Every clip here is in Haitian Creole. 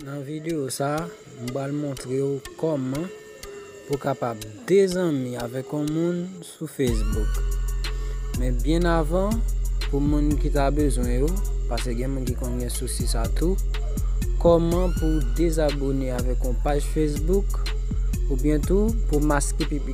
Nan video sa, m pral montre w kòman pou kapab dezanmi avèk yon moun sou Facebook. Men byen avan, pou moun ki ta bezwen yo, pase gen moun ki konn gen sousi sa tou, kòman pou dezabone avèk yon paj Facebook, oubyen tou pou maske pipi.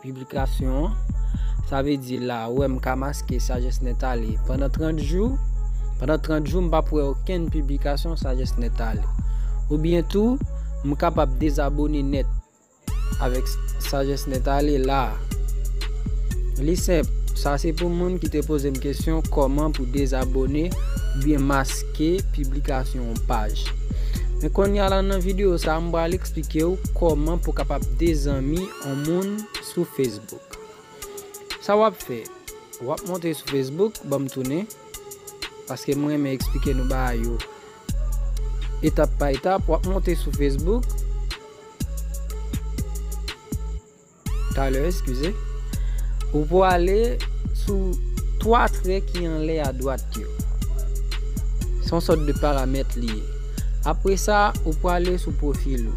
Piblikasyon an, sa vle di la ou wè m ka maske Sagesse Net Ale pandan 30 jou, pandan 30 jou m pap wè okenn piblikasyon Sagesse Net Ale. Oubyen tou, m kapab dezabone nèt avèk Sagesse Net Ale la a. Li senp, sa se pou moun ki te poze m kesyon kòman pou dezabone oubyen maske piblikasyon yon paj. Men kounye a la nan videyo sa a m pral eksplike ou kòman pou kapab dezanmi on moun sou Facebook sa wap fè wap monte sou Facebook banm tounen paske m renmen eksplike nou bagay yo etap pa etap wap monte sou Facebook talè eskize ou pwale sou 3 trè ki anlè adwat yo son sòt de paramèt li ye apresa ou pwale sou pwofil ou.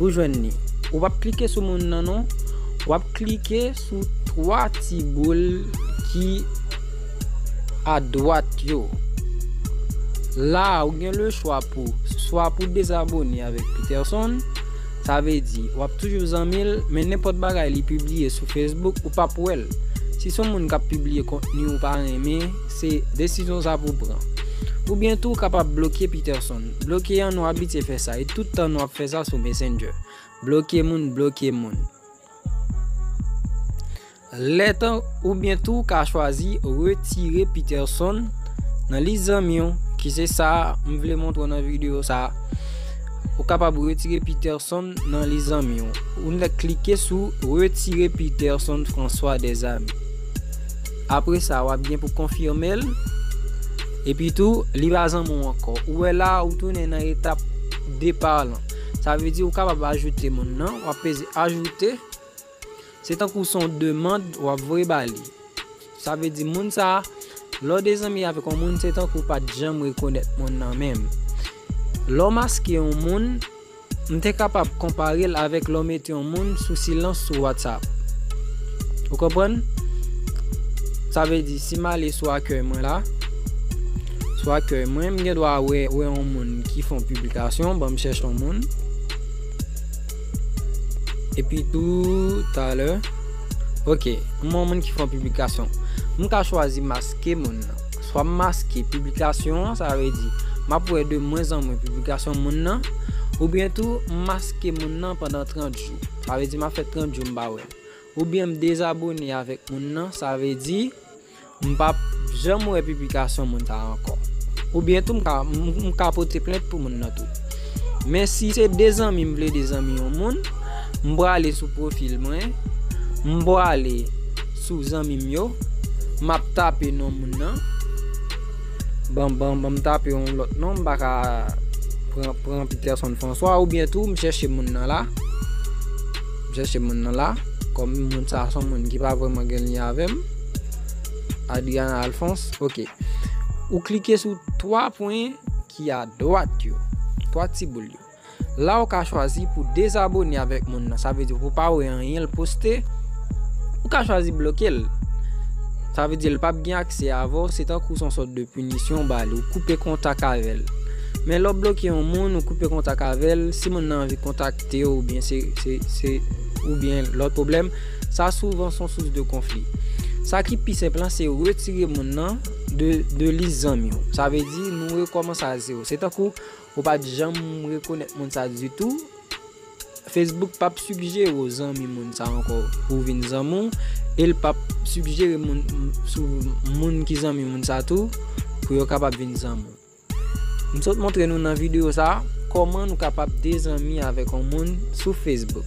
Ou jwenn li. Ou pap klike sou moun nan non. Wap klike sou 3 ti boul ki a dwat yo. La ou gen le chwa pou swa pou dezabone avèk Peterson. Sa vle di wap toujou zanmil men nenpòt bagay li pibliye sou Facebook ou pap wèl. Si son moun kap pibliye kontni ou pa renmen, se desizyon sa pou pran. Ou byen tou kapab bloke Peterson. Bloke an nou abitye fè sa e tout tan nou ap fè sa sou messenger bloke moun bloke moun lè tan ou byen tou ka chwazi retire Peterson nan lis zanmi ou ki se sa m vle montre nan video sa ou kapab retire Peterson nan lis zanmi ou ou klike sou retire Peterson François des amis. Apre sa wap gen pou konfimel. Epi tou li pa zanmiw anko. Ou we la ou tounen nan etap depart lan. Sa vle di ou kapab ajoute moun nan. Wap peze ajoute. Se tankou son demand wap voye ba li. Sa vle di moun sa. Le ou dezanmi avek yon moun se tankou ou pat janm rekonet moun nan menm. Le ou maske yon moun. M te kapab konpare l avèk lè w mete yon moun sou silans sou Whatsapp. Ou konprann? Sa vle di, si m ale sou akèy mwen la, sou akèy mwen, m gen dwa wè yon moun ki fè yon piblikasyon, bon m chèche yon moun. Epi tou, talè, ok, m wè yon moun ki fè yon piblikasyon. M ka chwazi maske moun nan. Swa m maske piblikasyon an, sa vle di, m ap wè de mwen zan mwen piblikasyon moun nan, oubyen tou m maske moun nan pandan 30 jou, sa vle di m ap fè 30 jou m pa wè l, oubyen m dezabone avèk moun nan, sa vle di m pa p janm wè piblikasyon moun sa ankò, oubyen tou m ka pote plent pou moun nan tou. Men si se de zanmi m vle de zanmi yon moun, m prale sou pwofil mwen, m prale. Sou zanmim yo Map tape non moun nan Ban banm tape yon lot non m paka Pran Peterson François oubyen tou m chèche moun nan la M chèche moun nan la Kom moun sa son moun ki pa vreman gen lyen avèm Adriana Alphonse ok Ou klike sou 3 pwen ki a dwat yo 3 ti boul yo. La ou ka chwazi pou dezabone avèk moun nan, sa vle di pou pa wè anyen l poste, ou ka chwazi bloke l. Sa vle di l pap gen aksè avè w, se tankou son sòt de pinisyon ou ba li, ou koupe kontak avè l. Men lè w bloke yon moun, ou koupe kontak avè l, si moun nan anvi kontakte w oubyen se se oubyen lòt pwoblèm, sa souvan son sous de konfli. Sa ki pi senp lan se retire moun nan de de lis zanmi w. Sa vle di nou rekòmanse a zewo. Se tankou. Ou pat janm rekonèt moun sa ditou. Facebook pap sigjere w zanmi moun sa ankò pou vin zanmi w e l pap sigjere moun sou moun ki zanmi moun sa tou pou yo kapab vin zanmi w. M sot montre nou nan videyo sa kòman nou kapab dezanmi avèk yon moun sou Facebook.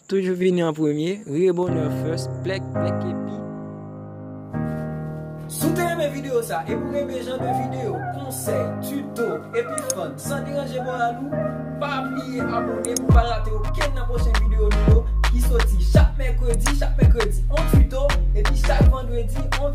Toujou vini an premye, rire bonheur first, plek, plek epi. Si w te renmen videyo sa epi w renmen jan de videyo, konsèy, tuto, epi fun san deranje moral ou, pa bliye abone pou w pa rate okenn nan pwochen videyo nou yo ki soti chak mèkredi, chak mèkredi on tuto, epi chak vandredi on.